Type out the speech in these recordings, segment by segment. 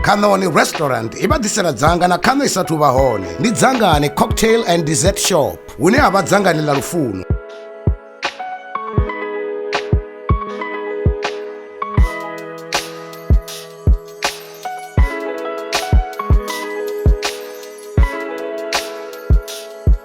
khanoni restaurant i vha ḓisela dzanga na khaṋo i sathu vha hone ndi dzangani cocktail and dessert shop hune ha vha dzangani ḽa lufuno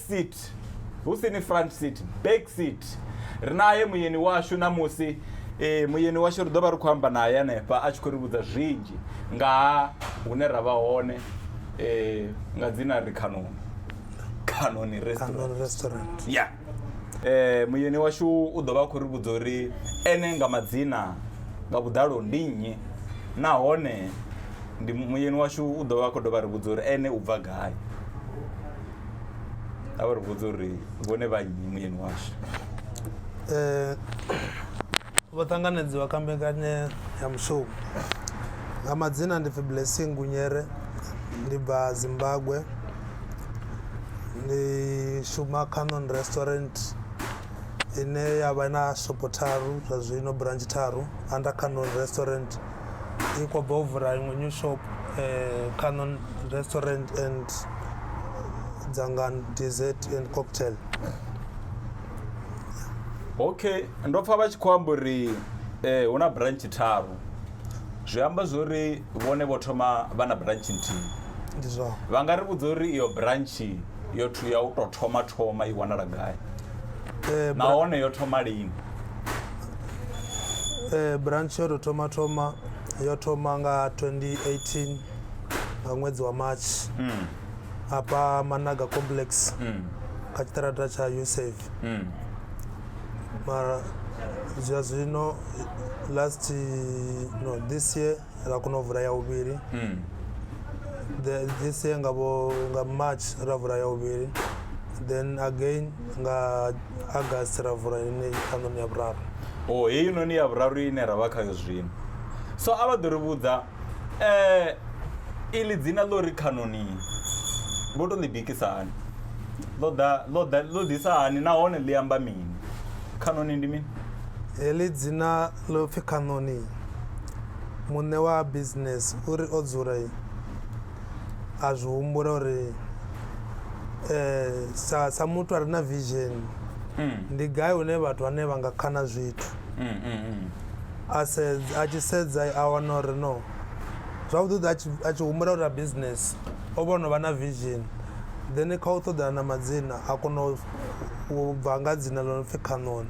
seat, hu si ni front seat, back seat. Ri nae muyeni washu ṋamusi eh, muyeni washu ri ḓo vha ri khou amba nae hanefha a tshi khou ri vhudza zwinzhi nga ha hune ra vha hone eh, nga dzina ri khanoni khanoni restaurant Canon Restaurant. ya eh muyeni washu u ḓo vha a khou ri vhudza uri ene nga madzina nga vhuḓalo ndi nnyi nahone ndi muyeni washu u ḓo vha a khou dovha a ri vhudza uri ene u bva gai a vha ri vhudza uri vhone vha nnyi muyeni washu eh, vho ṱanganedziwa kha mbekanya ya mushumo nga madzina ndi pfi blessing gunyere ndi bva zimbabwe ndi shuma canon restaurant ine ya vha na shopo tharu zwa zwino branch tharu under canon restaurant dzi khou bva u vula iṅwe new shop Canon restaurant and dzangano dessert and cocktail okay ndo pfha vha tshi khou amba uri eh, hu na branch tharu zwi amba zwori vhone vho thoma vha na branch nthihi ndi zwao vha nga ri vhudza uri iyo branch yo thu ya u tou thoma thoma i wanala gai Eh, bra- nahone yo thoma lini Eh, branch yo to thoma thoma yo thoma nga 2018 nga ṅwedzi wa march hafha managa complex kha tshiṱaraṱa tsha usave mara zwa zwino last no this year ra kona u vula ya vhuvhili hmm. the, this year nga, bo, nga march ra vula ya vhuvhili then again nga august ra vula ine ṱhanoni ya vhuraru o oh, heyi noni ya vhuraru ine ra vha khayo zwino so a vha ḓo ri vhudza um eh, ili dzina ḽo ri khanoni vho to ḽi bikisa hani ḽo ḓa ḽo ḓa ḽo ḓisa hani nahone ḽi amba mini khanoni ndi mini heḽi dzina ḽo pfi Kanoni, muṋe wa business uri o dzula a zwi humbula uri eh sa sa muthu a re na vision mm. ndi gai hune vhathu vhane vha nga khana zwithu mm, mm, a sedza a tshi sedza a wana uri no zwavhuḓi a tshi humbula uri a business o vha no vha na vision then kha u ṱoḓana na madzina a kona u bva nga dzina ḽo no pfi khanoni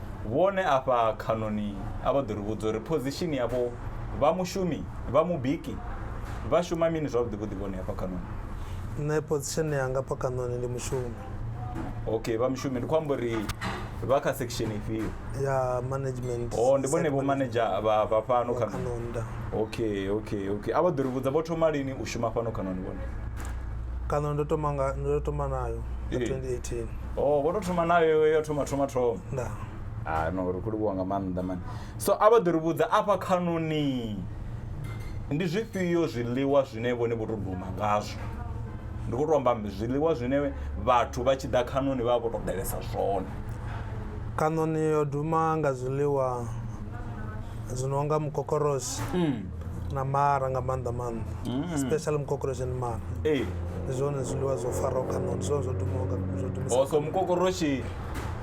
Vhone afha khanoni a vha ḓo ri vhudza uri phozishini yavho vha mushumi vha mubiki vha shuma mini zwavhuḓi vhuḓi vhone afha khanoni. Nṋe phozishini yanga afha khanoni ndi mushumi. Okay vha mushumi ndi khou amba uri vha kha section ifhio? Ya management. Oh ndi vhone vho manager vha vha fhano khanoni. Okay okay okay a vha ḓo ri vhudza vho thoma lini u shuma fhano khanoni vhone. Khanoni ndo thoma nga ndo thoma nayo nga 2018. oh vho to thoma nayo yo thoma thoma thoma nda ah no ri khou livhuwa nga maanḓa mani so a vha ḓo ri vhudza afha khanoni ndi zwifhio zwiḽiwa zwine vhone vho to duma ngazwo ndi khou to amba mbi zwiḽiwa zwine vhathu vha tshi ḓa khanoni vha vha vho to ḓalesa zwone kanoni yo duma nga zwiḽiwa zwi no nga mukokoroshi na mara nga maanḓa maanḓa mm. especially mukokoroshi ni mara ndi zwone zwiḽiwa zwo faraho khaṋo ndi zwone zwo dumaho so mukokoroshi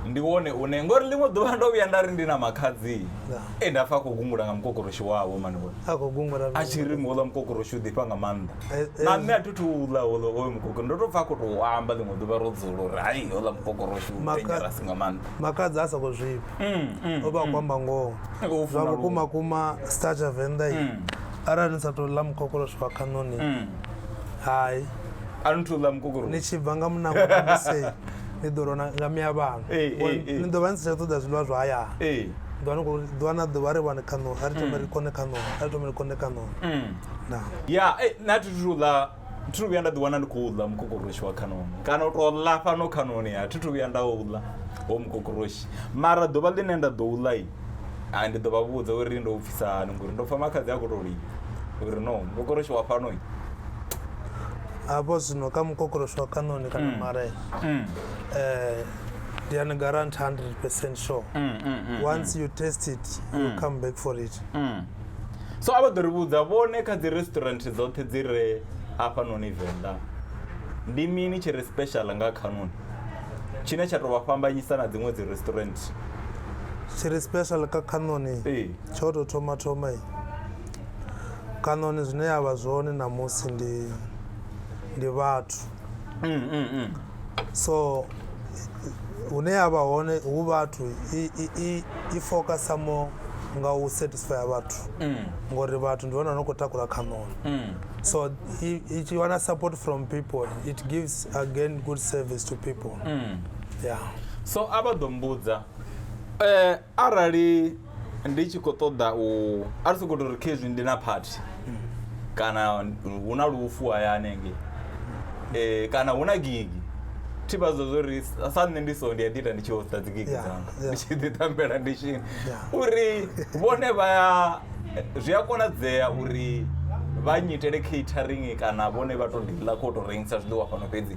ndi wone une ngori ḽiṅwe ḓuvha ndo vhuya nda ri ndi na makhadzi e nda pfa a khou gungula nga mukokoroshi wavho manivho a tshi ri muhouḽa mukokoroshi u ḓifha nga maanḓa eh, eh. na nṋe a thi thu uḽa houḽa oyo mukokoro ndo tou pfa a khou tou amba ḽiṅwe ḓuvha ro dzula uri hai houḽa mukokoroshi u dangerous nga maanḓa makhadzi a sa khou zwifha mm, mm, o vha mm. kwamba ngoho zwa vhukuma kuma star tsha venḓa i mm. arali ni sa tou ḽa mukokoloshi wa khanoni mm. hai a ni thu ḽa mukokoro ni tshi bva nga munango namusei ni ḓo rona nga mia vhano eh, eh, eh. ni ḓo vha ni si tsha ṱoḓa zwiḽiwa zwa haya ḓuvha ni khou ḓuvha na ḓuvha ri vhane khanoni a ri thome ri mm. kone khanoni a ri thome ri kone khanoni mm. ya na thi thu ḽa thi thu vhuya nda ḓiwana ndi khou ḽa mukokoroshi wa khanoni kana u tou ḽa fhano khanoni a thi thu vhuya nda u ḽa ho mukokoroshi mara ḓuvha ḽine nda ḓo u ḽa a ndi ḓo vha vhudza uri ndo u pfisa hani ngori ndo pfha makhadzi a khou tou lila uri no mukokoroshi wa fhano hafho zwino kha mukokoroshi wa khanoni kana mm. mare mm. eh, ndi ani garant 100 percent sure mm, once you test it you come back for it So a vha ḓo ri vhudza vhone kha dzi restaurant dzoṱhe dzi re hafhanoni Venḓa ndi mini tshi re special nga khanoni tshine tsha tou vha fhambanyisa na dziṅwe dzi restaurant tshi re special kha khanoni tsho tou thoma thoma khanoni zwine ya vha zwone ṋamusi ndi ndi vhathu mm, mm, mm. so hune ya vha hone hu vhathu i- i- i- i focasa mo nga u satisfya vhathu ngori vhathu ndi vhona no khou takula khaṋoni so i i tshi wana support from people it gives again good service to people yeah so a vha ḓo mbudza eh arali ndi tshi khou ṱoḓa u a ri soko tori khezwi ndi na phathi kana hu na lufu hayani ngei um kana hu na gigi thi vha zwa zwo ri sa nṋe ndi so ndi a ḓi ita ndi tshi hosta dzi gigi dzanga ndi tshi ḓi tambela ndi tshini uri vhone vha ya zwi a konadzea uri vha nyitele catering kana vhone vha to diḽa kho to rengisa zwiḽiwa fhano fhedzi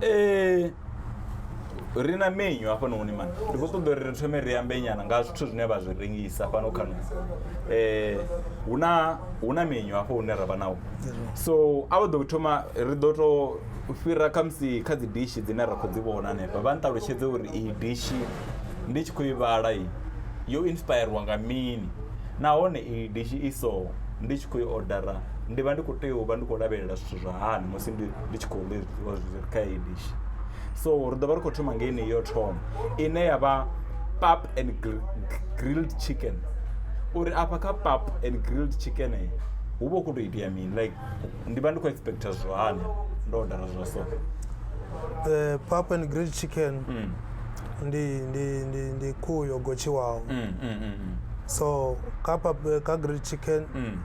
eh, ri na menyu hafhanoni mani ndi khou ṱoḓa uri ri thome ri ambe nyana nga zwithu zwine vha zwi rengisa fhano khano um eh, hu na hu na menyu hafho hune ra vha nawo so a vha ḓo thoma ri ḓo tou fhira khamusi kha dzi dishi dzine ra khou dzi vhona hanefha vha nṱalutshedze uri iyi dishi ndi tshi khou i vhala i yo inspirwa nga mini nahone iyi dishi i so ndi tshi khou i odara ndi vha ndi khou tea u vha ndi khou lavhelela zwithu zwa hani musi ndi ndi tshi khou ḽi zwiḽiwa zwi re kha heyi dishi so ri ḓo vha ri khou thoma ngei nei yo thoma ine ya vha pap and grilled chicken uri afha kha pap and grilled chicken hu vha hu khou tou itea mini like ndi vha ndi khou expecta zwihani ndo odara zwa so eh, pap and grilled chicken mm. ndi ndi ndi ndi khuhu yo gotshiwaho mm, mm, mm, mm. so kha pap eh, kha grilled chicken mm.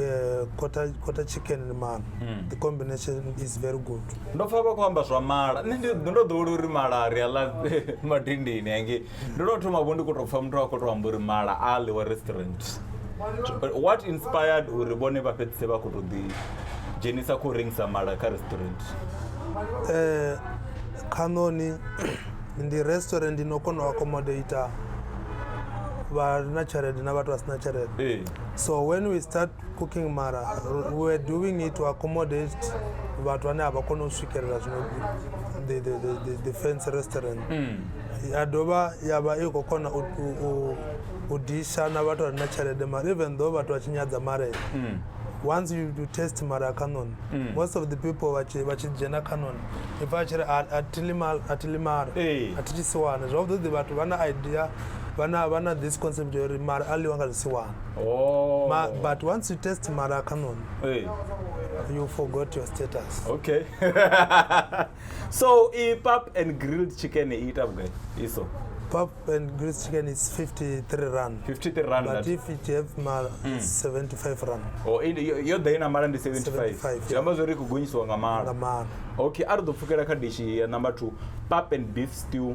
eh, quarter, quarter chicken man mm. the combination is very good ndo pfa vha khou amba zwa mala nṋe ndi ndo ḓowela uri mala ri a ḽa madindini ange ndo tou thoma vho ndi khou tou pfa muthu a khou tou amba uri mala a ḽiwa restaurant what inspired uri vhone vha fhedzise vha khou tou ḓi dzhenisa khou rengisa mala kha restaurant um khanoni ndi restaurant ino kona u accommodata vha na tshelede na vhathu vha si na tshelede So when we start cooking mara we were doing it to accommodate vhathu vhane a vha kone u swikelela zwino the, the, the, the, the fancy restaurant mm. ya dovha ya vha i khou kona u, u, u disha na vhathu vha re na tshelede mara even though vhathu vha tshi nyadza marela mm. once you, you test mara canon mm. most of the people vha tshi dzhena canon i pfa a tshi ri a thi limara a thi tshi siwane zwavhuḓi vhathu vha na idea vha na vha na this concept ya uri mara a ḽiwa nga zwisiwana oh Ma, but once you test mara canon hey. you forgot your status okay so i pap and grilled chicken i ita vhugai iso pap and grilled chicken is 53 rand 53 rand but if it have mara mm. 75 rand oh yo ḓa ina mara ndi 75 zwi amba zwo ri khou gonyisiwa nga mara nga mara okay a ri ḓo pfukela kha dishi ya number 2 pap and beef stew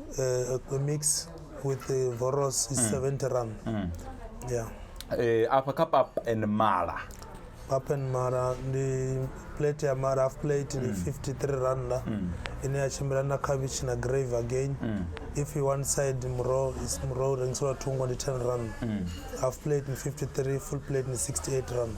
uh, the mix with the voros is 70 rand yeah Eh, afha kha pap and mala pap and mara ndi plate ya mara half plate ndi 53 randa ine ya tshimbila na khavhishi na grave again if you one side muroho is muroho rengiselwa thungo ndi 10 rand half plate ndi 53 full plate ndi 68 rand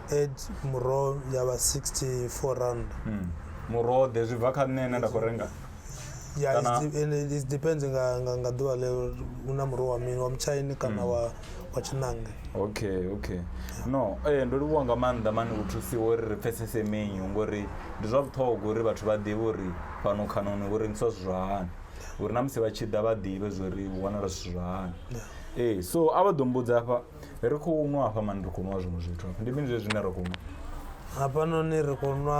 add muroho ya vha 64 rand Mm. muroho ḓe zwi bva kha nṋe ene nda khou renga ya Kana- it's de- and it it depends nga nga nga ḓuvha ḽeo hu na muroho wa mini wa mutshaini kana wa wa tshinange okay okay no ee ndo livhuwa nga maanḓa mani u thusiwa uri ri pfesese menyu ngori ndi zwa vhuṱhogwa uri vhathu vha ḓivhe uri fhano khanoni hu rengiswa zwithu zwa hani uri na musi vha tshi ḓa vha ḓivhe zwori hu wanala zwithu zwa hani ee so a vha ḓo mbudza hafha ri khou nwa hafha mani ri khou nwa zwiṅwe zwithu hafha ndi mini zwe zwine ra khou nwa hafhanoni ri khou nwa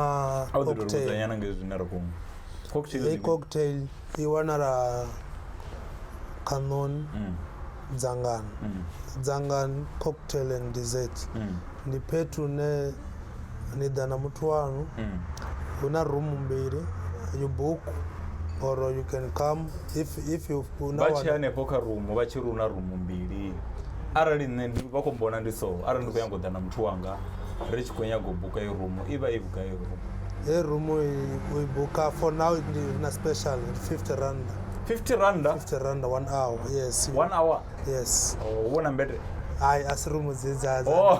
a u ḓi tou vhudzanyana nga zwine ra khou nwa cocktail hei cocktail i wanala khaṋoni mm. dzangano mm. dzangano cocktail and dessert mm. ndi phethu ne ni ḓa na muthu wanu mm. hu na room mbili you book or you can come if if you una vha tshi hanefho kha room vha tshi runa room mbili arali nṋe ndi vha khou mbona ndi so arali ndi khou nyanga u ḓa na muthu wanga ri tshi khou nyanga u buka i room i vha i vhugai i room e room i buka for now ndi na special 50 rand 50 rand 50 rand 1 hour yes 1 hour yes oh, u vhona mbete hayi a si rumu dzedza oh.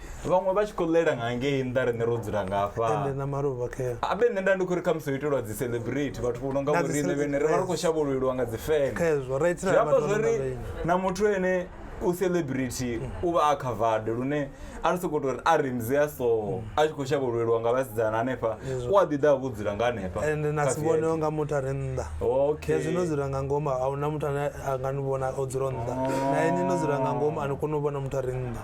vhaṅwe vha tshi khou ḽela nga ngei nnḓa riṋe ro dzula nga ende afha na maluvha kea abe nṋe nda ndi khou ri khamusi ho itelwa dzi celebrate vhathu vho no nga Na dzi vhoriṋe cele- vhene ri vha ri khou shavhululelwa nga dzi feme khezwo ra itela zwi amba vhathu vha zwori no nga na muthu ene u celebrity u vha a covered lune a ri sokou tou ri a ri mze a so a tshi khou shavhululelwa nga vhasidzana hanefha u a ḓi ḓa a vho dzula nga hanefha ende na kha si vhone VIP. nga muthu a re nnḓa Okay. hezwi no dzula nga ngomu a huna muthu ane a nga ni vhona o dzula nnḓa na ini no dzula nga ngomu a ni koni u vhona muthu a re nnḓa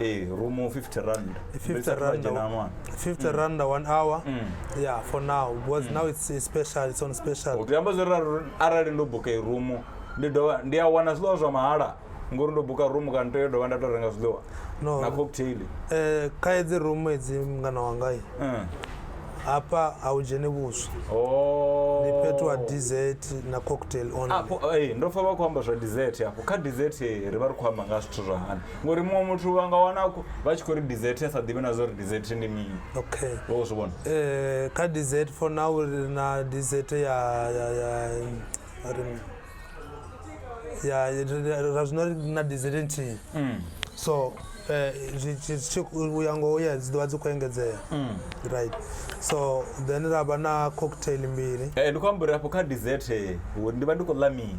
eh romo 50 rand 50 rand a- 50 rand one hour yeah for now because now it's, it's special it's on special zwi amba zwo ralo arali ndo buka irumu ndi dovha ndi a wana zwiḽiwa zwa mahala ngori ndo buka rumu kana tea dovha nda to renga zwiḽiwa No. na cocktail eh kha edzi room edzi mngana wangai Mm. hapa a u dzheni vhuswa Oh. ndi fhethu ha dessert na cocktail only apo eh, ndo pfa vha khou amba zwa dessert afho kha dessert eh, ri vha ri khou amba nga zwithu zwa hani ngori muṅwe muthu vha nga wana vha tshi khou ri dessert a sa ḓivhi na zwa uri dessert ndi mini okay wo zwi vhona eh kha dessert for now ri na dessert ya ya ya ri ya ra zwino ri na dessert nthihi mm. so eh, uya ngoho ya dzi ḓovha dzi khou engedzea mm. right so then ra vha na cocktail mbili eh, ndi khou amba uri afho kha dessert eh, ndi vha ndi khou ḽa mini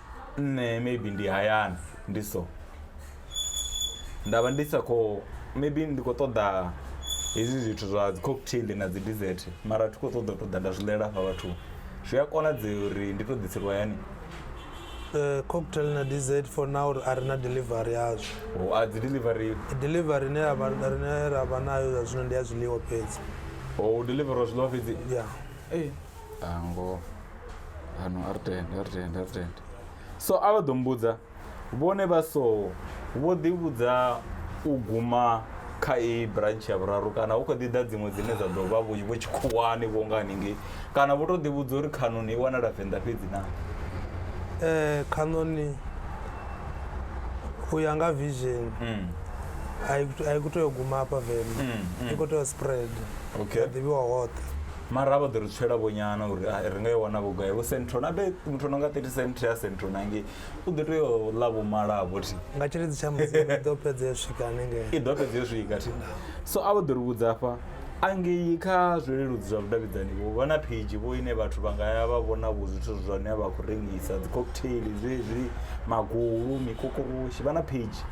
nṋe maybe ndi hayani ndi so nda vha ndi sa khou maybe ndi khou ṱoḓa hezwi zwithu zwa dzi cocktail na dzi dessert mara thi khou ṱoḓa u ṱoḓa nda zwi ḽela hafha vhathuni zwi a konadzea uri ndi tou ḓiselwa hayani Eh, cocktail na dz for now a ri na delivery yazwo o a dzi delivery delivery ine ya vha- rine ra vha nayo zwa zwino ndi ya zwiḽiwa fhedzi o delivera zwiḽiwa fhedzi ya Ee. Ah, ngoho ano a ri tende a ri tende a ri tende so a vha ḓo mbudza vhone vha so vho ḓivhudza u guma kha iyi branch ya vhuraru kana hu kho ḓi ḓa dziṅwe dzine dza ḓo vha vho vho tshikhuwani vho nga haningei kana vho tou ḓivhudza uri khanoni i wanala venḓa fhedzi na Eh, khanoni u ya nga vision Mm, a i- a i khou tea u guma hafha venḓa mm, i mm. khou tea u spread okay ya ḓivhiwa hoṱhe mara vha ḓo ri tswela vhonyana uri ah, ri nga i wana vhugai vho centro na be muthu no nga 30 cent ya centro nange u ḓo tea u ḽa vho mala vho thi nga tshiledzi tsha mudzimu i ḓo fhedza yo swika hanengei i ḓo fhedza yo swika thi so a vha ḓo ri vhudza afha angei kha zwileludzi zwa vhudavhidzani vho vha na pheidzhi vho ine vhathu vha nga ya vha vhona vho zwithu zwine vha khou rengisa dzi cocktail zwezwi magulu mikokoroshi vha na pheidzhi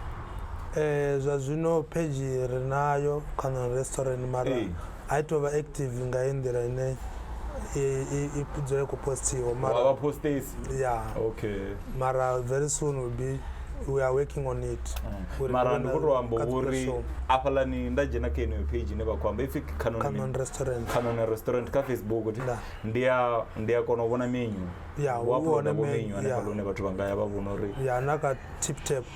Eh, zwa zwino phedzhi ri nayo kha non restaurant mara Ee. a i tovha active nga hei nḓila ine i dzula i khou postiwa mara postesi ya okay mara very soon will be we are working on it mm. mara ndi khou tou amba uri afhalani nda dzhena kha yeneyo page ine vha khou amba ipfi canon restaurant canon restaurant kha facebook ndi a ndi a kona u vhona menyu ya u vhona menyu hanefhaḽa hune vhathu vha nga ya vha vhona uri ya na kha tip tap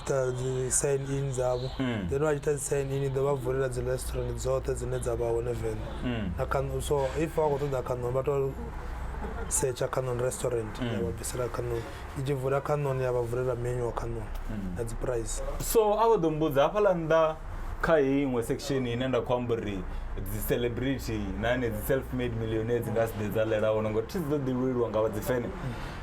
ita dzi sign in dzavho mm. then vha ita dzi sign in ḓo vha vulela dzi restaurant dzoṱhe dzine dza vha hone venḓa mm. na kanu so if vha khou ṱoḓa kanu vha to setsha canon restaurant mm. ya vha bvisela canon i tshi vula canon ya vha vulela menu wa canon mm. na dzi price so a vho ḓo mbudza hafhaḽa nnḓa kha heyi iṅwe section ine nda khou amba uri dzi celebrity na ane dzi self made millionaire dzi nga si ḓe dza lela hone ngori thi dzi ḓo ḓi lweliwa nga vha dzi fene mm.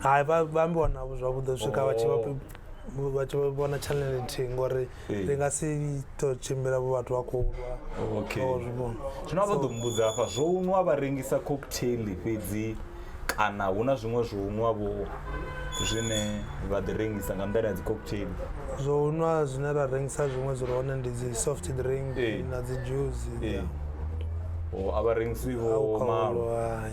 hai vha vha ambiwa navho zwavhuḓi u swika vha tshi vha Oh. vha tshi vhona channel nthihi ngori Ee. ndi nga si to tshimbila vho vhathu vha khou lwa Okay. Vha zwi vhona. zwino a vha ḓo mbudza hafha zwo nwa vha rengisa cocktail fhedzi kana hu na zwiṅwe zwo nwa vho zwine vha ḓi rengisa nga nḓila ya dzi cocktail zwo nwa zwine ra rengisa zwiṅwe zwi re hone ndi dzi soft drink Ee. na dzi juice ee o a vha rengisi vho malo alcohol hai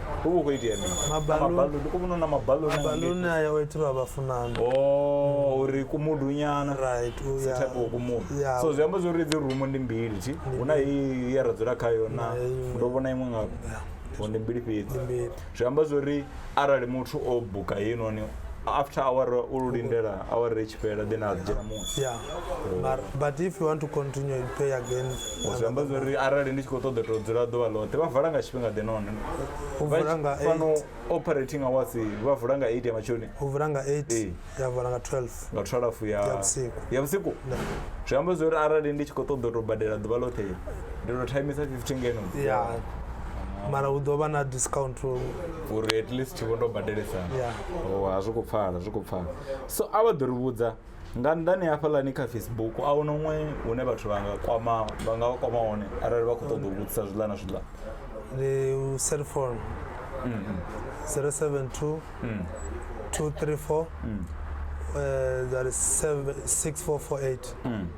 hu vha hu khou itea mini mabaluni ku vhona na mabaluni mabaluni a yawe thi vha vhafunani oh uri ku mudunyana right u ya type of kumudu so zwi amba zwori dzi rumu ndi mbili thi hu na i ya ra dzula khayo na ndo vhona iṅwe nga vho ndi mbili fhedzi zwi amba zwori arali muthu o buka heyi noni after awara u lindela awara i tshi fhela then a dzhena muṅwe yeah oh. but if you want to continue you pay again zwi amba zwa uri arali ndi tshi khou ṱoḓa to dzula ḓuvha ḽoṱhe vha vala nga tshifhinga ḓe none fhano operating hours vha vula nga 8 ya matshoni u vula nga 8 ya vula nga 12 nga 12 ya vhusiku ya vhusiku zwi amba zwa uri arali ndi tshi khou ṱoḓa to badela ḓuvha ḽoṱhe ndi to timisa 15 ngeno ya mara hu ḓo vha na discount uri at least vho ndo badelesa yeah. oh, a zwi khou pfala zwi khou pfala so a vha ḓo ri vhudza nga nnḓani hafhaḽani kha facebook a hu noṅwe hune vhathu vha nga kwama vha nga vha kwama hone arali vha khou ṱoḓa u vhudzisa zwiḽa na zwiḽa ndi cell phone 072 234 mm. mm. uh, that is 64448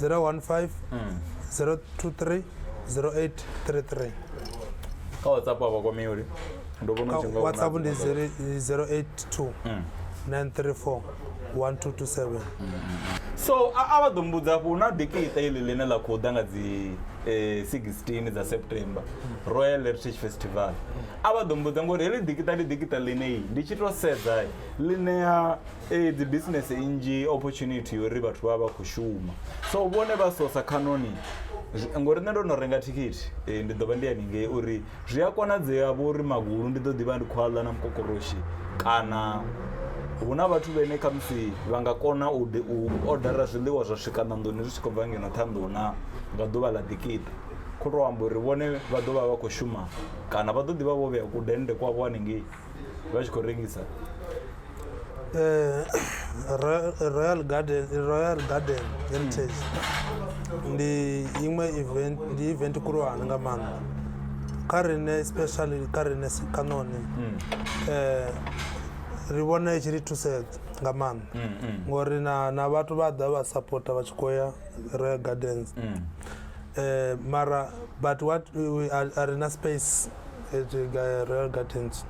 015 023 0833 kha whatsapp a vha kwamei uri ndo vhona Kha u tshi nga hu na whatsapp ndi dziṅwe zere- 082 934 1227 so a a vha ḓo mbudza hafho hu na dikiṱa iḽi ḽine ḽa khou ḓa nga dzi eh, 16 dza september royal heritage festival a vha ḓo mbudza ngori heḽi dikiṱa ndi dikiṱa ḽine ndi tshi tou sedza ḽi ṋea ee dzi business nnzhi opportunity yori vhathu vha vha khou shuma so vhone vha sosa khanoni ngori nṋe ndo no renga thikhithi eh, ndi ḓo vha ndi haningei uri zwi a konadzea vho uri magulu ndi ḓo ḓivha ndi khou aḽa na mukokoroshi kana hu na vhathu vhene khamusi vha nga kona u odara zwiḽiwa zwa swika ṋanḓoni zwi tshi khou bva ngeno ṱhanḓou na nga ḓuvha ḽa ḓikiṱa kho to amba uri vhone vha ḓo vha vha khou shuma kana vha ḓo ḓivha vho vhea kudennde kwavho haningei vha tshi khou rengisa Royal Royal Garden Royal Garden Heritage ndi iṅwe event ndi event khulwane nga maanḓa kha riṋe especially kha riṋe si- kha none eh ri vhona i tshi ri thusedza nga maanḓa ngori na na vhathu vha ḓa vha sapota vha tshi khou ya royal gardens mm. eh, mara but what we are, are in a space at uh, royal gardens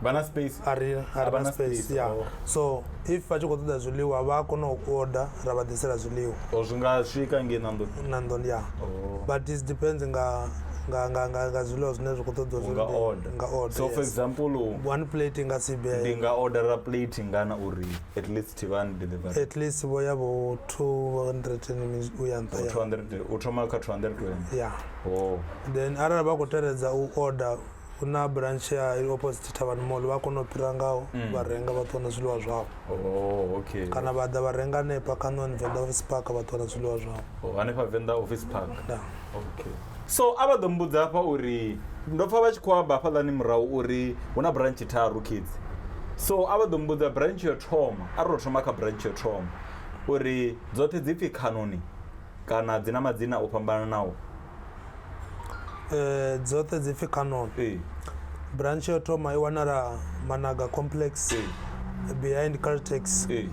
vana space ari ari na space ya oh. so if vha tshi khou ṱoḓa zwiḽiwa vha a kona u order ra vha ḓisela zwiḽiwa o oh, zwi nga swika nge na nḓoni na nḓoni ya oh. but it depends nga nga nga nga nga zwiḽiwa zwine zwi khou ṱoḓa zwi nga order nga order so for example one plate nga si be ndi nga order a plate ngana uri at least Thivhani delivery. At least vho ya vho 200 u ya nṱha. 200 u thoma kha 220. Yeah. Oh. Then arali vha khou teledza u order hu na branch ya opposite thavhani mall vha kona u fhira ngaho mm. vha renga vha ṱuwa na zwiḽiwa zwavho oh, okay. kana vha ḓa vha renga hanefha kanoni venḓa office park vha ṱuwa na zwiḽiwa zwavho oh, hanefha venḓa office park da. okay. So a vha ḓo mmbudza hafha uri ndo pfa vha tshi khou amba hafhaḽani murahu uri hu na branch tharu kids. So a vha ḓo mmbudza branch yo thoma a ri to thoma kha branch yo thoma uri dzoṱhe dzi pfi khanoni kana dzi na madzina o fhambananaho. Eh dzoṱhe dzi pfi khanoni. Ee. Branch yo thoma i wanala Managa complex. Ee. Behind Caltex. Ee.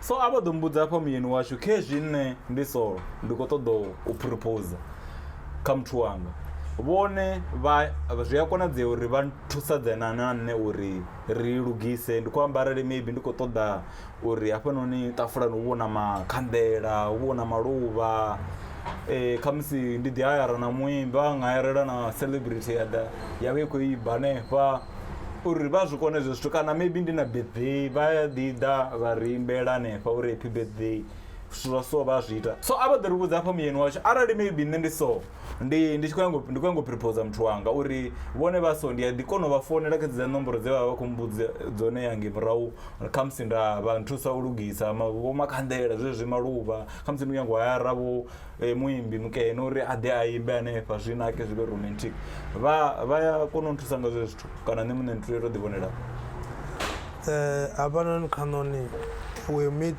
So a vho ḓo mbudza afha muyeni washu khezwi nṋe ndi solo ndi khou ṱoḓa u propose kha muthu wanga vhone vha zwi a konadzea uri vha thusadzana na nṋe uri ri lugise ndi khou amba arali maybe ndi khou ṱoḓa uri hafhanoni ṱafulani hu vho na makhanḓela hu vho na maluvha khamusi ndi ḓi hayara na muimbi a nga hayarela na celebrity ya ḓa ya vha i khou imba hanefha. uri vha zwi kone hezwo zwithu kana maybe ndi na birthday vha ya ḓi ḓa vha ri imbela hanefha uri happy birthday zwithu zwa so vha zwi ita so a vha ḓo ri vhudza hafha muyeni washu arali maybe nṋe ndi so ndi ndi tshi khou nyanga ndi khou nyanga u prepose muthu wanga uri vhone vha so ndi a ḓi kona u vha founela kha dza nomboro dze vha vha khou mbudza dzone yange murahu kha musi nda vha nthusa u lugisa vho makhanḓela zwezwi maluvha kha musi ndi nyanga u hayara vho e, muimbi mukene uri a ḓe a imbe hanefha zwi nake zwi vhe romantic vha vha ya kona u nthusa nga zwe zwithu kana nṋe muṋe nthuyo to ḓivhonela eh, hafhanoni khanoni we meet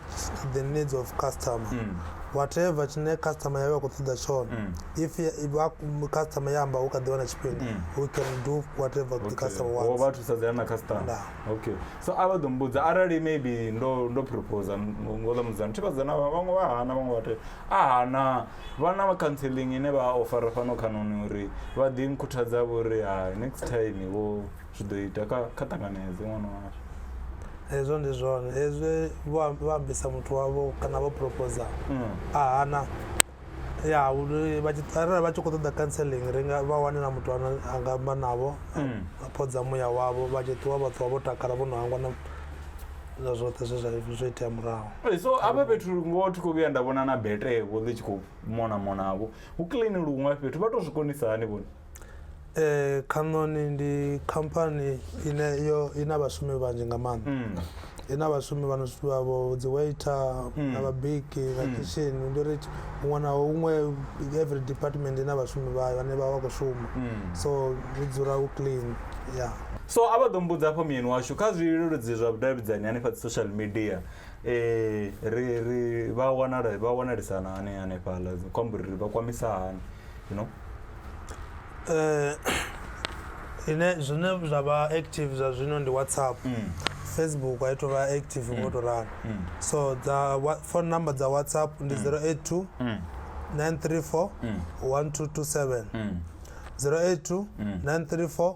the needs of customer mm. whatever tshine customer yawe a khou ṱoḓa tshone mm. if customer ya amba hu kha ḓi wana tshifhinga mm. we can do whatever okay. the customer wants vha thusadzeana na customer nah. okay so a vha ḓo mbudza arali maybe ndo ndo propose ngoḓa mudzana thi vhadzana vhaṅwe vha hana vhaṅwe vhate Aha, naa vha na counselling ine vha ofara fhano khanoni uri vha ḓi nkhuthadza vho ri hai next time vho zwi ḓo ita kha kha ṱanganedze ṅwana washu hezwo ndi zwone hezwi vho am- vha ambisa muthu wavho kana vho proposa a hana ya uri vha tshi- arali vha tshi khou ṱoḓa counselling ri nga vha wane na muthu ane a nga amba navho a phodza muya wavho vha tshi ṱuwa vha ṱuwa vho takala vho no hangwa na zwa zwoṱhe zwe zwa zwo itea murahu Ee, so hafha fhethu ngoho thi khou vhuya nda vhona na betevho ḽi tshi khou mona monavho hu clean luṅwe fhethu vha tou zwi konisa hani vhone Eh, Canoni ndi khamphani ine yo ina vhashumi vhanzhi nga maanḓa Mm. ina vhashumi vhano vha vho dzi waiter na vhabiki na kitchen ndi uri huṅwe na huṅwe every department ina vhashumi vhayo vhane vha vha khou shuma so hu dzula hu clean ya So a vha ḓo mbudza hafha muyeni washu kha zwileludzi zwa vhudavhidzani hanefha dzi social media eh ri ri vha wanala vha wanalisana hani hanefhaḽa dzi khou amba uri ri vha kwamisa hani you know eh ine zwine zwa vha active zwa zwino ndi WhatsApp mm. Facebook a ithu vha active ngo mm. to ralo mm. so dza phone number dza WhatsApp ndi 082 mm. 934 mm. 1227 mm. 082 mm. 934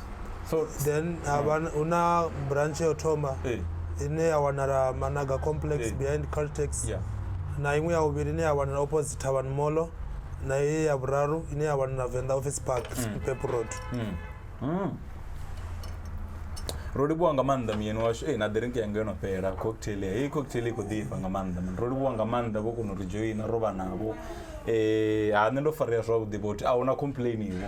so then ha vha- hu na branch yo thoma eh, ine ya wanala managa complex Eh. behind caltex yeah. na iṅwe ya vhuvhili ine ya wanala opposite tavern molo na ye ya vhuraru ine ya wanala venḓa office park pep road Mm. Mm. ro livhuwa nga maanḓa muyeni washu e na drink yanga yo no fhela cocktail ya heyi cocktail i khou ḓifha nga maanḓa mani ro livhuwa nga maanḓa vho kona u ri joina ro vha navho um ha nṋe ndo farea zwavhuḓi vhoti a hu na complain iwo